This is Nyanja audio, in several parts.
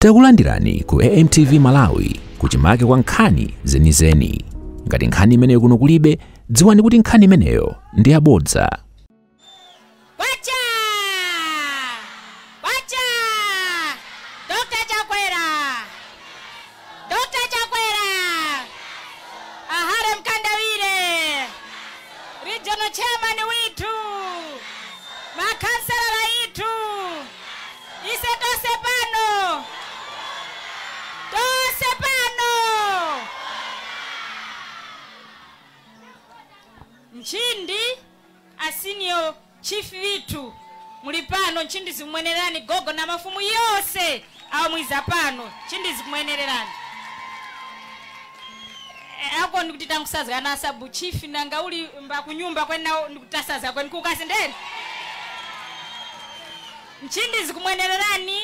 Takulandirani ku AMTV Malawi kuchimake kwa nkhani zenizeni. Ngati nkhani imeneyo kuno kulibe, dziwani kuti nkhani imeneyo ndi yabodza. Kwacha! Kwacha! Dr. Chakwera! Dr. Chakwera! A Harry Mkandawire! Regional chairman withu, makhansala withu, ise tose pano, tose pano. Nchindi a senior Chief withu muli pano nchindi zikumuenererani gogo na mafumu yose amwiza pano nchindi zikumuenererani. E, ako ndikuti tangusazga na sabu chief nanga uli mba kunyumba kweni nao ndikutasaza kweni kukasendeni nchindi zikumuenererani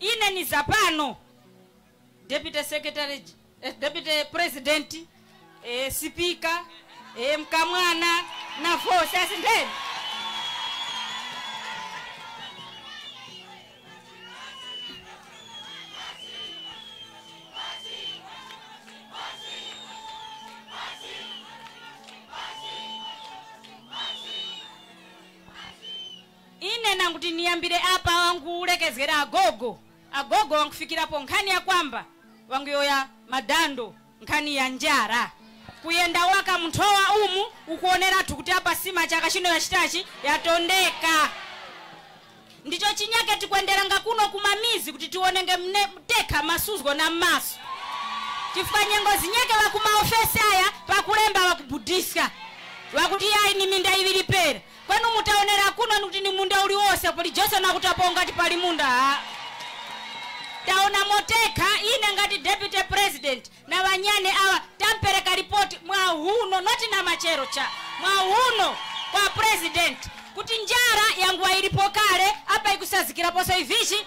Ine niza pano deputy secretary, eh, deputy president eh, sipika eh, mkamwana na vosi asindeni Ine nanguti niyambile apa wangulekezgera agogo, agogo wangufikirapo nkhani ya kwamba wanguyowoya madando nkhani ya njara kuyenda waka munthowa umu ukuonerathu kuti apa sima chaka chino yachitachi yatondeka ndicho chinyake tikwendelanga kuno kumamizi kuti tionenge mne tekha masuzgo na mmaso chifukwa nyengo zinyake wakumaofesi awa pakulemba wakubudiska wakuti yayi ni minda yiwiri pera Kweni umo taonera kuno nikuti ni munda uli wose kuli Johnson akutapo ngati pali munda haa. Taona umo tekha ine ngati deputy president na banyane awa tampereka report mwa huno not na machero cha mwa huno kwa president kuti njara yanguwa ilipo kale apa ikusazikiraposo ivichi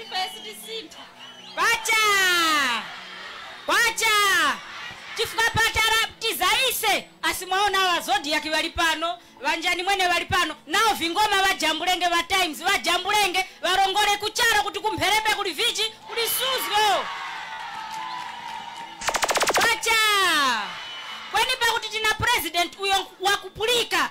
ife sitisintha kwacha kwacha chifukwa patara tiza ise asi mwaona awa zodiac vali pano vanjani mwene vali pano nao vingoma vajambulenge va times vajambulenge varongole kuchara kuti kumpherembe kuli vichi kuli suzgo kwacha kweni pakuti tina president uyo wakupulika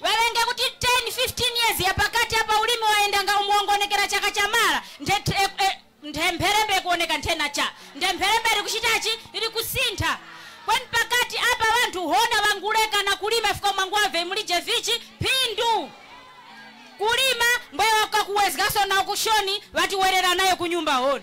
Walenge kuti 10, 15 years yapakati apa ulimi wayendanga umu wanguonekera chaka cha mara nthe the e e nthe mpherembe ikuoneka nthe na cha nthe mpherembe iri kuchitachi iri kusintha kwen pakati apa banthu hona banguleka na kulima chifukwa mwanguwavye mulije vichi phindu kulima mbwe wakakuwezgaso na ukushoni batiwerera nayo kunyumba hon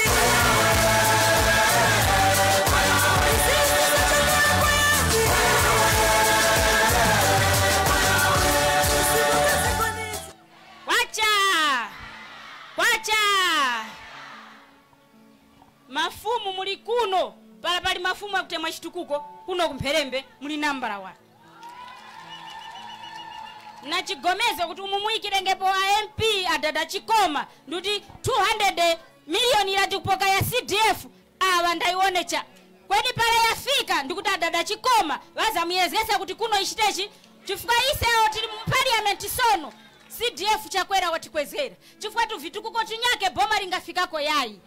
kwacha kwacha mafumu muli kuno pala pali mafumu akutemwa chitukuko kuno kumpherembe muli nambala wani nachigomezgo kuti umu muyikirengepo a mp adada chikoma ndikuti 200 miliyoni irati kupoka ya cdf awa ndaionecha kweni pala yafika ndikuti adada chikoma vazamuyezesa kuti kuno ichitechi chifukwa isewo tili mu parliament sono cdf chakwera watikwezera chifukwa tu vitukuko tunyake boma lingafikako yayi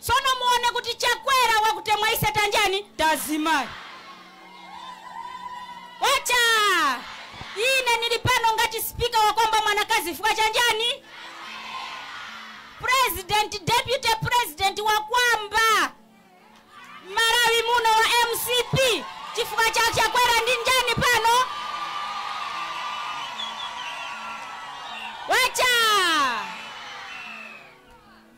Sono muone kuti Chakwera wakutemwa ise tanjani tazimayi kwacha ine nili pano ngati speaker wakwamba mwanakazi chifukwa chanjani president deputy president wakwamba mmalawi muno wa mcp chifukwa cha Chakwera ndi njani pano kwacha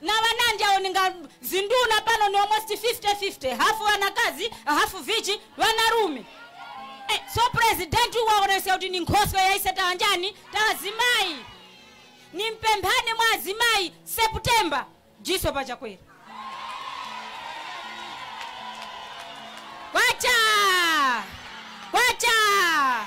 Na banandi awo ninga zinduna pano ni almost 50 50, half banakazi, half vichi, banalume. Eh, so president uyu waonesa kuti ni nkhoswe ya ise tawanjani, tawazimai. Ni mpemphani mwa azimai, September, jiso pa chakwera. Wacha! Wacha!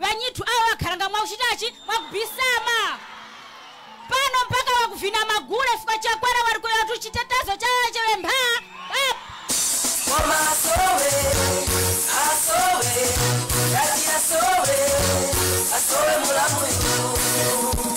Banyithu awo akhalanga mwakuchitachi mwakubisama pano mpaka wakuvina magule fukwa chakwera warikuyotu chitetezo cha chevempha up. Koma asowe, asowe, kati asowe, asowe mulamu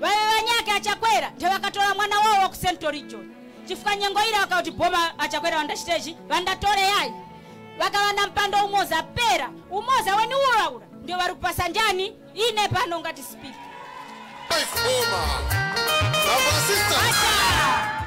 Babe banyake a Chakwera nde bakatola mwana wawo waku central region chifukwa nyengo ira bakauti boma a Chakwera bandachita ichi bandatole yayi bakaba na mpando umoza pera umoza weni ula ula ndio bari kupasa njani ine pano ngati speaker Life Boma. Our sisters. Acha!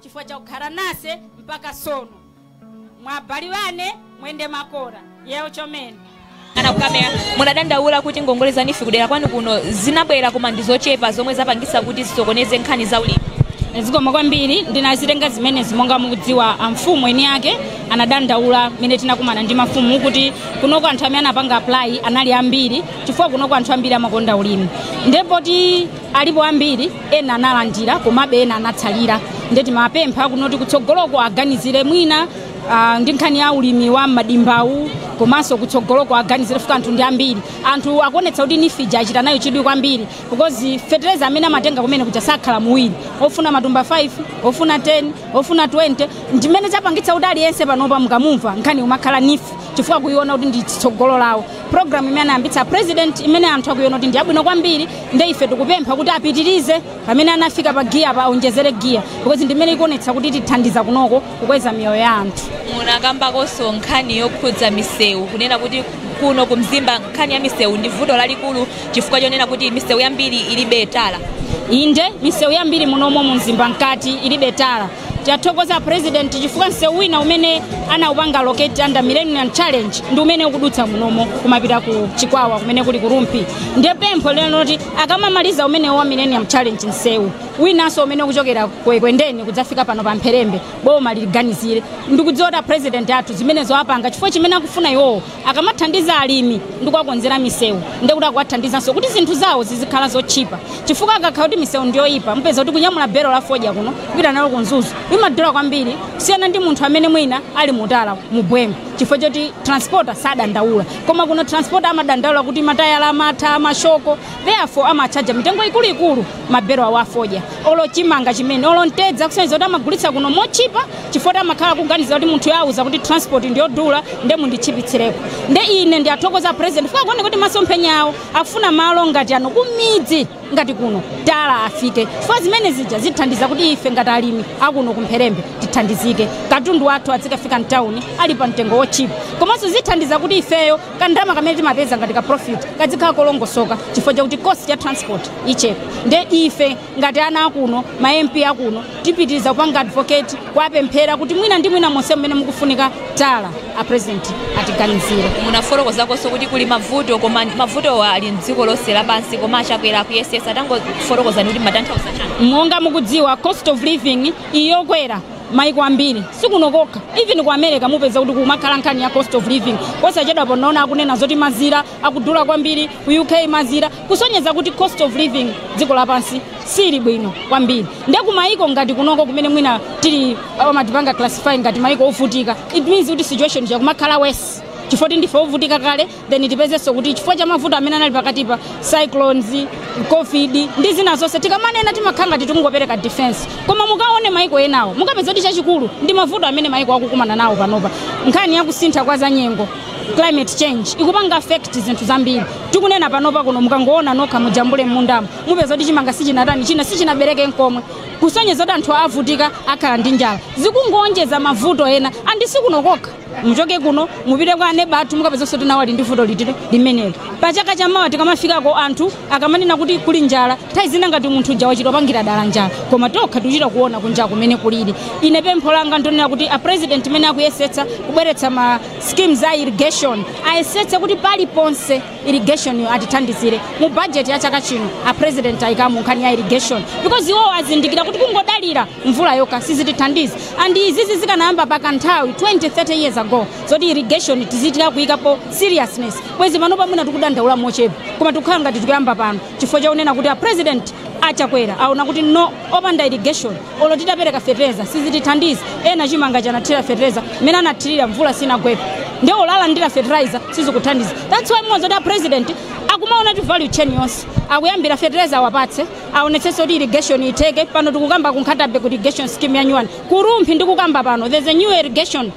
chifukwa chakukhara nase mpaka sono mwabali bane mwende makora yewo chomene ana kukamera munadandaula kuti ngongole za NEEF kudera kwanu kuno zinabwera koma ndi zochepa zomwe zapangisa kuti zisokoneze nkhani za ulimi zikomo kwambiri ndinazitenga zimenezi monga mukudziwa amfumu eni ake anadandaula mmene tinakumana ndi mafumu kuti kunoko anthu amene anapanga apply anali ambiri chifukwa kunoko anthu ambiri amakonda ulimi nde poti alipo ambiri ena analandira komabe ena anatsalira nde timapempha kunoti kutsogoloko aganizire mwina ah, ndi nkhani ya ulimi wa madimbawu komanso kutsogoloko aganizire fuka anthu ndi ambiri anthu akuonetsa kuti NEEF ija achita nayo chidwi kwambiri because fetereza amene amatenga kumene kuja sakhala muwiri ofuna matumba 5 ofuna 10 ofuna 20 ndimene zapangitsa kuti aliyense panopa mukamumva nkhani umakhala NEEF chifukwa akuiona kuti ndi tsogolo lawo programu imene anayambitsa president imene anthu akuiona kuti ndi yabwino kwambiri nde ife tikupempha kuti apitirize pamene anafika pa giyapa aonjezere giya because ndi imene ikuonetsa kuti itithandiza kunoko kukweza miyoyo ya anthu munakambakonso nkhani yokhudza misewu kunena kuti kuno ku mzimba nkhani ya misewu ndi vuto lalikulu chifukwa chonena kuti misewu yambiri ilibe tala inde misewu yambiri munomo mu mzimba mkati ilibe tala Tathokoza a president chifukwa msewu wina umene anaupanga allocate under millennium challenge ndi umene ukudutsa munomo kumapita ku Chikwawa kumene kuli ku Rumphi. Ndiye pempho lero loti akamamaliza umenewo wa millennium challenge msewu winanso umene ukuchokera ku Ekwendeni kudzafika pano pa Mpherembe boma liliganizire. Ndikudziwa kuti a president athu zimenezo apanga chifukwa chimene akufuna iwowo akamathandiza alimi ndi kuwakonzera misewu ndiye kuti akuwathandizanso kuti zinthu zawo zizikhala zotchipa chifukwa akakhala kuti misewu ndiyoyipa mupeza kuti kunyamula belo la fodya kuno kupita nalo ku mzuzu imadula kwambiri kusiyana ndi munthu amene mwina ali mu tala mubwemo chifukwa choti transporter sadandaula koma kuno transporter amadandaula kuti matayala amatha mashoko therefore amatchaja mitengo ikuluikulu mabelo awo afodya olo chimanga chimene olo mtedza kusonyeza kuti amagulitsa kuno motchipa chifukwa kuti amakhala kuganiza kuti munthu yauza kuti transport ndiyodula nde munditchipitsireko nde ine ndi wathokoza president chifukwa kuona kuti masomphenya awo akufuna malo ngati ano kumidzi ngati kuno tala afike chifukwa zimene zija zithandiza kuti ife ngati alimi akuno ku Mpherembe tithandizike katundu wathu adzikafika mtawuni ali pa mtengo wotchipa komanso zithandiza kuti ifeyo kandama kamene timapeza ngati ka profit kadzikhala kolongosoka chifukwa chakuti cost ya transport ichepa nde ife ngati ana akuno ma mp akuno tipitiriza kupanga advocate kuwapempha kuti mwina ndi mwina monse mmene mukufunika tala a president atiganizire munafotokozakonso kuti kuli mavuto koma mavutowa ali mdziko lonse lapansi koma a Chakwera akuyesesa tangofotokozani kuti mmatanthauza chani monga mukudziwa cost of living iyokwera Maiko ambiri sikuno kokha even ku America mupeza kuti kumakhala nkhani ya cost of living. Posachedwapa naona akunena zoti mazira akudula kwambiri ku UK mazira kusonyeza kuti cost of living dziko lapansi sili bwino kwambiri. Nde ku maiko ngati kunoko kumene mwina tili amatipanga classify ngati maiko ovutika it means kuti situation yakumakhala worse chifoti ndife ovutika kale then tipezenso kuti chifukwa cha mavuto amene anali pakatipa cyclones covid ndi zina zonse tikamanena timakhala ngati tikungopereka defense koma mukaone maiko enawo mukapeza kuti chachikulu ndi mavuto amene maiko akukumana nawo panopa nkhani yakusintha kwa zanyengo climate change ikupanga affect zinthu zambiri tikunena panopa kuno mukangoona nokha mujambule m'mundamo mupeza kuti chimanga sichinatani china sichinabereke nkomwe kusonyeza kuti anthu avutika akhala ndi njala zikungowonjezera mavuto ena and sikuno kokha muchoke kuno mupite kwa aneba athu mukapezanso ti nawo ali ndi vuto ngati limeneli pa chaka cha mawa tikamafikako anthu akamanena kuti kuli njala nthawi zina ngati munthu uja wachita kupangira dala njala koma tokha tikuchita kuona kunjaku mmene kulili ine pempho langa ndonena kuti a president mmene akuyesetsa kubweretsa ma schemes a irrigation ayesetsa kuti paliponse irrigation yo atithandizire mu budget ya chaka chino a president ayikamu nkhani ya irrigation because iwo azindikira kuti kungodalira mvula yokha sizitithandiza and izizi zikanayamba pakanthawi 20 30 years ago zoti irrigation tizitika kuyikapo seriousness bwezi panopa mwina tikudandaula mochepa koma tikukhala ngati tikuyamba pano chifukwa chakunena kuti a president a Chakwera aona kuti no opanda irrigation olo titapereka fertilizer sizitithandiza ena chimanga anathira fertilizer mmene anathirira mvula sinagwepo nde olo alandira fertilizer sizikuthandiza that's why mwaona kuti a president akumaona ti value chain yonse akuyambira fertilizer awapatse aonetsenso kuti irrigation itheke pano tikukamba ku Nkhata Bay kuli irrigation scheme yanyuwani ku Rumphi ndikukamba pano there's a new irrigation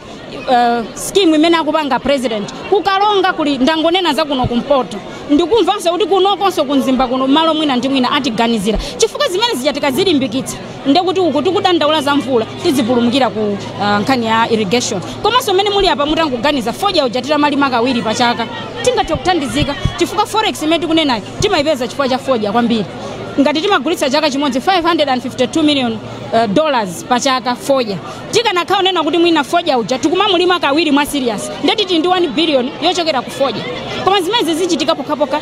uh, scheme imene akupanga president ku Karonga kuli ndangonena za kuno kumpoto ndikumvanso kuti kunokonso ku Mzimba kuno malo mwina ndi mwina atiganizira chifukwa zimene zichitika zilimbikitsa ndekuti uku tikudandaula za mvula tidzipulumukira ku uh, nkhani ya irrigation komanso mmene muli apa mutangoganiza fodya uja titamalima kawiri pa chaka tingathe kuthandizika chifukwa forex imene tikunenayo timayipeza chifukwa cha fodya kwambiri ngati timagulitsa chaka chimodzi 552 million uh, dollars pa chaka fodya tikanakhala kunena kuti mwina fodya uja tikumamulima kawiri mwa serious ndekuti tili ndi 1 billion yochokera ku fodya koma zimenezi zichitika pokhapokha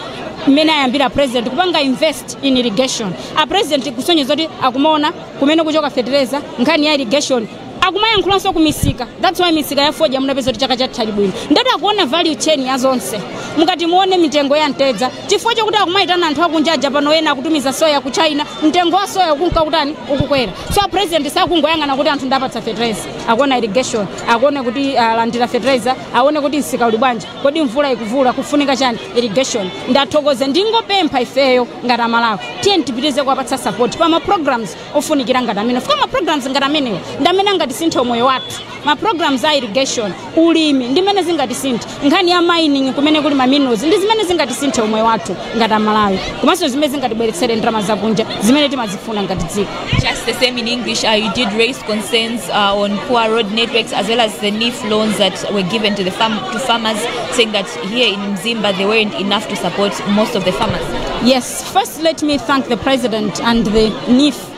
mmene ayambira president kupanga invest in irrigation a president akusonyeza kuti akumaona kumene kuchoka fetereza nkhani ya irrigation akumayankhulanso kumisika that's why misika ya fodya munapeza kuti chaka chatha inali bwino ndati akuona value chain ya zonse mukati muone mitengo ya mtedza chifukwa chokuti akumayitana anthu akunja aja pano ena akutumiza soya ku china mtengo wa soya ukunka kutani ukukwera so president sakungoyang'ana kuti anthu ndapatsa fertilizer akuona irrigation akuona kuti alandira fertilizer aone kuti msika uli bwanji kodi mvula ikuvuta kufunika chani irrigation ndathokoze ndingopempha ifeyo ngati amalawi tiyeni tipitirize kuwapatsa support pa ma programs ofunikira ngati amenewa chifukwa ma programs ngati amenewo ndi amene angatisinthe umoyo wathu ma programs a irrigation ulimi ndi zimene zingatisinthe nkhani ya mining kumene kuli ma minerals ndi zimene zingatisinthe umoyo wathu ngati amalawi komanso zimene zingatibweretsere ndalama zakunja zimene timazifuna ngati dziko Just the same in English, uh, you did raise concerns uh, on poor road networks as well as the NEEF loans that were given to the farm to farmers, saying that here in Mzimba they weren't enough to support most of the farmers. yes first let me thank the president and the NEEF